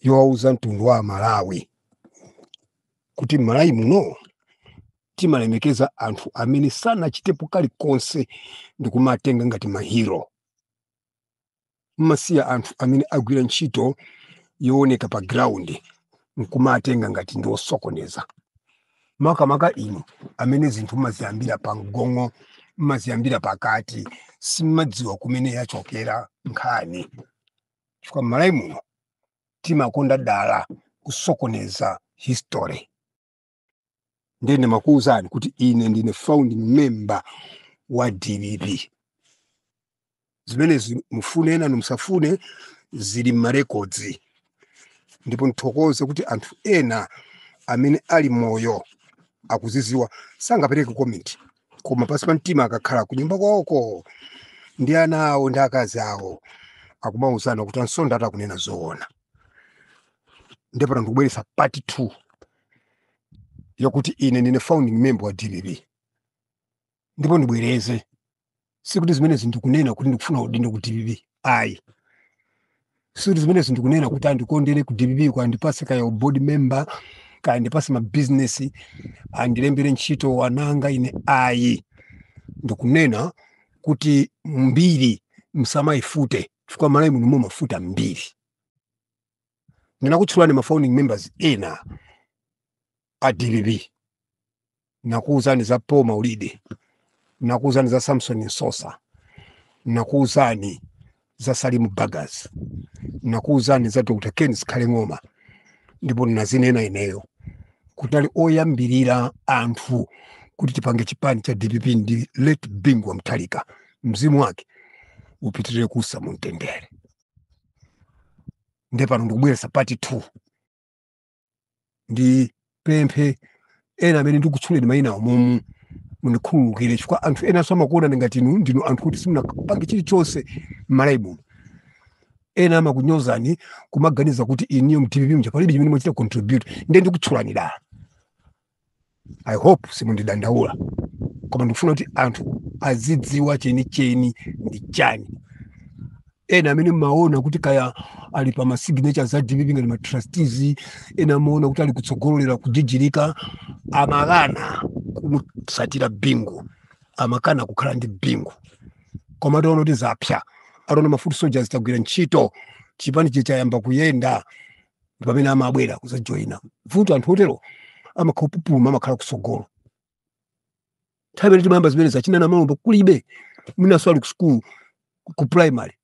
yowauza mtundu wa amalawi kuti m'malawi muno timalemekeza anthu amene sanachitepo kalikonse ndi kumatenga ngati mahiro mmasiya anthu amene agwira ntchito yooneka pa ground nkumatenga ngati ndi osokoneza makamaka inu amene zinthu mmaziyambira pa mgongo mmaziyambira pakati simmadziwa kumene yachokera nkhani chifukwa m'malawi muno timakonda dala kusokoneza history ndiye ndimakuwuzani kuti ine ndine founding member wa dpp zimenezi mufune enanu musafune zili m'marekodzi ndipo ndithokoze kuti anthu ena amene ali moyo akuzidziwa sangapereke komenti koma pansi pa mtima akakhala kunyumba kwawoko ndi ana awo ndi akazi awo akumauzana kuti a Msonda akunena zoona ndiye pano ndikubweretsa part 2 yakuti ine ndine founding member wa dpp ndipo ndibwereze sikuti zimenezi ndikunena kuti ndikufuna udindo ku dpp ayi sikuti zimenezi ndikunena kuti andikondere ku dpp kuti andipatse kaya board member kaya andipatse mabizinesi andilembere ntchito ana anga ine ayi ndikunena kuti mbiri msamayifute chifukwa m'malawi muno mumafuta mbiri ndinakutchulani ma founding members ena a dpp nakuwuzani za paul maulidi nakuwuzani za samson msosa nakuwuzani za salimu bagus nakuwuzani za dr ken zikhale ng'oma ndipo ndinazinena ineyo kuti ali oyambirira anthu kuti tipange chipani cha dpp ndi late bingu wa mutharika mzimu wake upitirire kuusa mu mtendere nde pano ndikubweretsa part 2 ndipemphe ena amene ndikutchuleni mayina awo umu mundikhululukire chifukwa anthu enanso amakuonani ngati inu ndinu anthu kuti simunapange chilichonse m'malawi muno ena amakunyozani kumaganiza kuti inuyo mdpp mja palibe chimene mwachita contribute nde ndikutchulani dala i hope simundidandaula koma ndikufuna kuti anthu azidziwa chenicheni ndi chani ena amene mmaona kuti kaya ali pa masignature za dpp ngati matrustees ena amaona kuti ali kutsogolo lero kujijirika amakana kumutsatira bingu amakana kukhala ndi bingu koma ataona kuti zapsa ataona mafuti soldiers tagwira ntchito chipanichi chayamba kuyenda ndi pamene amabwera kuzajoyina vuto anthu otero amakhala kupupuluma amakhala kusogolo nthawi imene timayamba zimene zachina namalomba kulibe mwinaso ali ku sukulu ku primary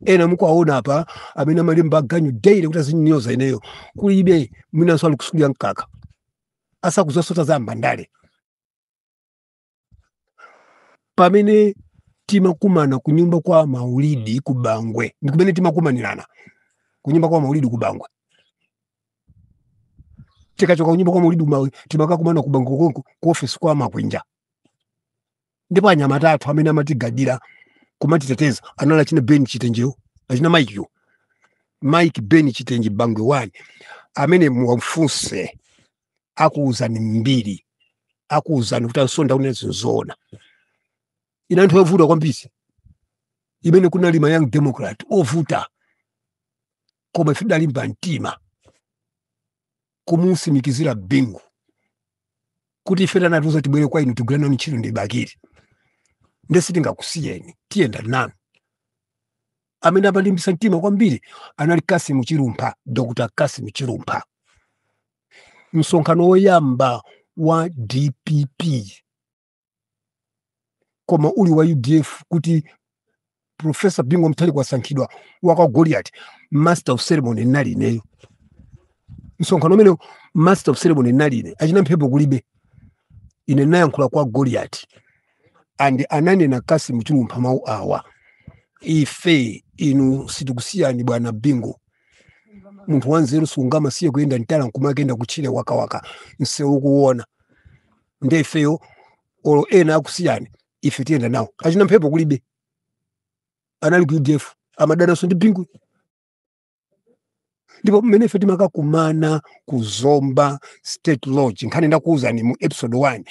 ena mukuwaona apa amene amalemba aganyu daily kuti azinyoza ineyo kulibe mwinaso ali ku sukulu ya mkaka asakuzasota za mbandale pamene timakumana kunyumba kwa maulidi ku bangwe ndi kumene timakumanirana kunyumba kwa maulidi ku bangwe tikachoka kunyumba kwa maulidi timakakumana ku bangwe konko ku ofesi kwa makwinja ndipo anyamata athu amene amatigadira kumatiteteza anali achina ben chitenjeyo achina mike yo mike ben chitenje bangwe wani amene muwafunse akuwuzani mbiri akuwuzani kuti a msonda akunena zinthu zoona inali nthawi ovuta kwambiri imene kunali ma young democrat ovuta koma ife tidalimba mtima kumusimikizira bingu kuti ife anatiuza tibwere kwa inu tigwira nanu ntchito ndi bakiri nde sitingakusiyeni tiyenda nanu amene anatilimbisa mtima kwambiri anali kasimu chilumpha dr kasimu chilumpha msonkhano woyamba wa dpp koma uli wa udf kuti profesa bingu mutharika wasankhidwa wa kwa goliati master of ceremony nali ineyo msonkhano umenewo master of ceremony nali ine achina mphepo kulibe ine nayankhula kwa goliati and ananena Kassim Chilumpha mawu awa ife inu sitikusiyani bwana Bingu munthu wanzeru sungamasiye kuyenda mtala nkumakayenda kutchire msewu ukuwona nde ifeyo olo ena akusiyani ife tiyenda nanu achina mphepo kulibe anali ku udf amadananso ndi Bingu ndipo mmene ife timakakumana ku zomba state lodge nkhani ndakuwuzani mu episode 1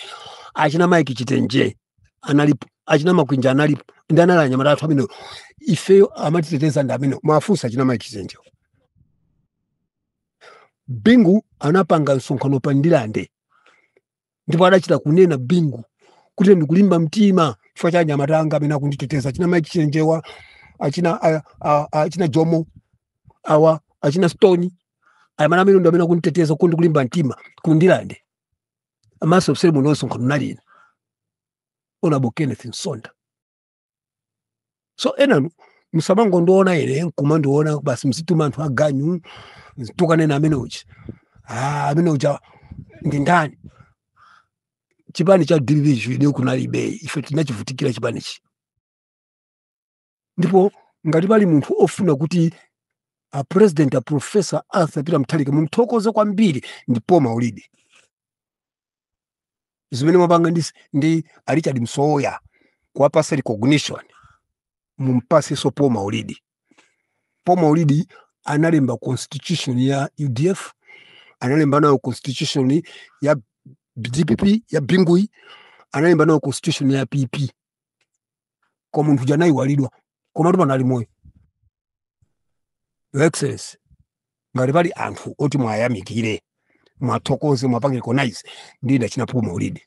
achina mike chitenje analipo achina makwinja analipo ndi anali anyamata athu amenewo ifeyo amatiteteza ndi amenewo muwafunse achina mike chitenje bingu anapanga msonkhano pa ndilande ndipo adachita kunena bingu kuti ndikulimba mtima chifukwa cha anyamata anga amene akunditeteza achina mike chitenjewa achina a- a- a- achina jomo awa achina stone anyamata amenewa ndi amene akunditeteza kuti ndikulimba mtima kundilande master of ceremony msonkhano nali ine onabo kenneth msonda so enanu musamangondiona ine nkumandiona basi mzituma anthu aganyu tukanena amene uja ah, amene uja ndi ndani chipani cha division kunalibe ife tinachivutikira chipanichi ndipo ngati pali munthu ofuna kuti a president a professor arthur peter mutharika mumthokoze kwambiri ndi paul maulidi zimene mwapanga ndi, ndi a richard msowoya kuwapasa recognition mumpaseso paul maulidi paul maulidi analemba constitution ya udf analemba nayo constitution ya dpp ya bingui analemba nayo constitution ya pp koma munthu uja anayiwalidwa komatu pano ali moyo your excellency ngati pali anthu oti mwayamikire mwathokoze mwapange recognize ndi ndachina paul maulidi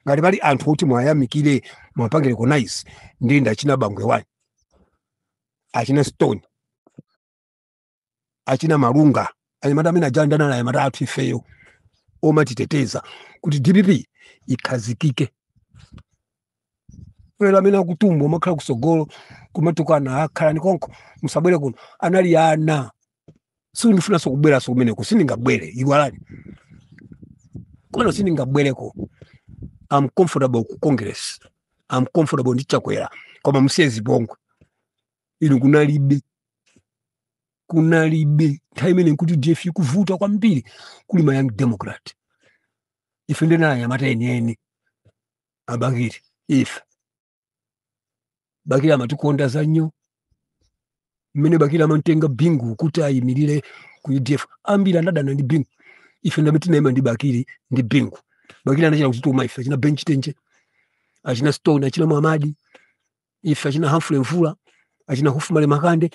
ngati pali anthu oti mwayamikire mwapange recognize ndi ndachina bangwe wani achina stone achina malunga anyamata amene aja ndi anali anyamata athu ifeyo omatiteteza kuti dpp ikhazikike lero amene akutumba umakhala kusogolo kumatukana akhalani konko musabwere kuno anali ana sindifunanso kubweranso kumeneko sindingabwere iwalani komwe sindingabwereko am comfortable ku congress am comfortable ndi chakwera koma musiye zipongwe inu kunalibe kunalibe nthawi imene ku udf kukuvuta kwambiri kuli ma young democrat ife ndi anyamata enieni a bakili ife bakili amatikonda zanyoo mmene bakili amamtenga bingu kuti ayimirire ku udf ambiri anadana ndi bingu ife ndi amene tinayima ndi bakili ndi bingu bakili anachita kutituma ife achina ben chitenje achina stone achina mwamadi ife achina Humphrey Mvula achina Hufumale Makande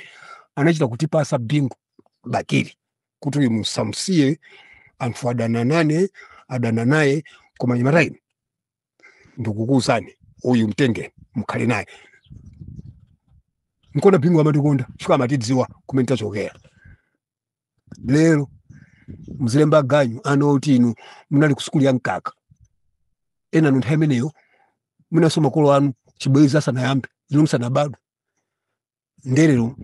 anachita kutipasa bingu bakili kuti uyu musamusiye anthu adana nane adana naye koma anyamata inu ndikukuuzani uyu mtengeni mukhale naye nkona bingu amatikonda chifukwa amatidziwa kumene tachokera lero muzilemba ganyu ana oti inu munali ku sukulu ya mkaka enanu nthawi imeneyo mwinanso makolo anu chibwenzi asanayambe inu musanabadwe ndelero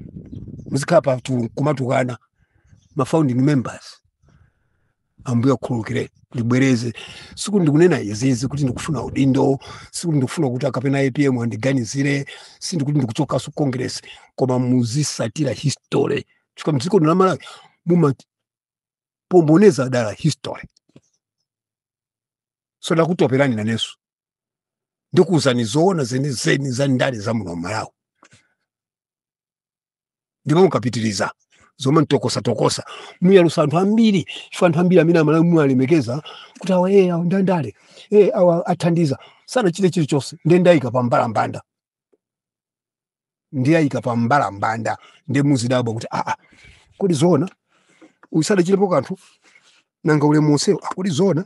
muzikhala pa tu- kumatukana ma founding members ambuye akhululukire ndibwereze sikuti ndikunena izizi kuti ndikufuna udindo sikuti ndikufuna kuti akapena apm andiganizire sindikuti ndikuchokaso congress koma muzisatira history chifukwa m'dziko lino la malawi mumasokoneza dala history so ndakutoperani nanenso ndikuwuzani zoona zenizeni za ndale za muno malawi ndipo mukapitiriza zomanditokosatokosa muyalusa anthu ambiri chifukwa anthu ambiri amene amalawi muwalemekeza kuti awa ee awa nda ndale ee awa athandiza sanachite chilichonse ndiye ndayika pa mbalambanda ndiwayika pa mbalambanda ndiye muzidabwa kuti aa kodi zoona uyu sadachitepo kanthu nanga ulemu onsewo a kodi zoona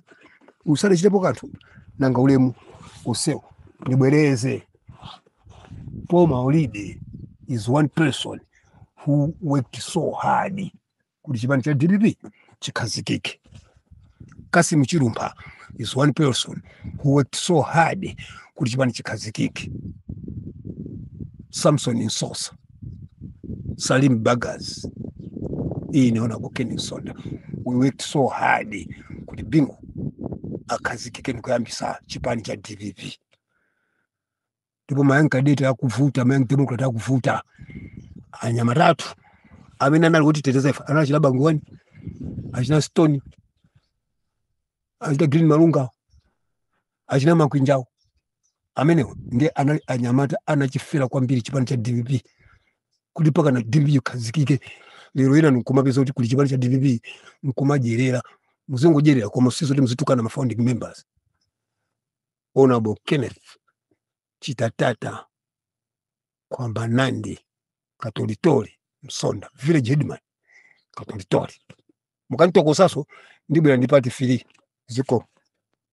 uyu sadachitepo kanthu nanga ulemu onsewo ndibwereze paul maulidi is one person who worked so hard kuti chipani cha dpp chikhazikike kassim chilumpha is one person who worked so hard kuti chipani chikhazikike samson msosa Salim Bagas ine Honorable Ken Msonda we worked so hard kuti Bingu akhazikike ndikuyambisa chipani cha DPP ndipo ma young cadet akuvuta ma young democrat akuvuta anyamata athu amene anali kutiteteza ife anali achina bangwani achina stone achina green malunga achina makwinja awo amenewo ndiye anali anyamata anachifera kwambiri chipani cha dpp kuti pakana dpp chikhazikike lero ena nkumapeza kuti kuli chipani cha dpp nkumadyerera muzingodyerera koma si zoti muzitukana ma founding members honorable kenneth chitatata kwamba nandi katolitoli msonda village headman katolitoli mukanitokosaso ndibwera ndi part three zikomo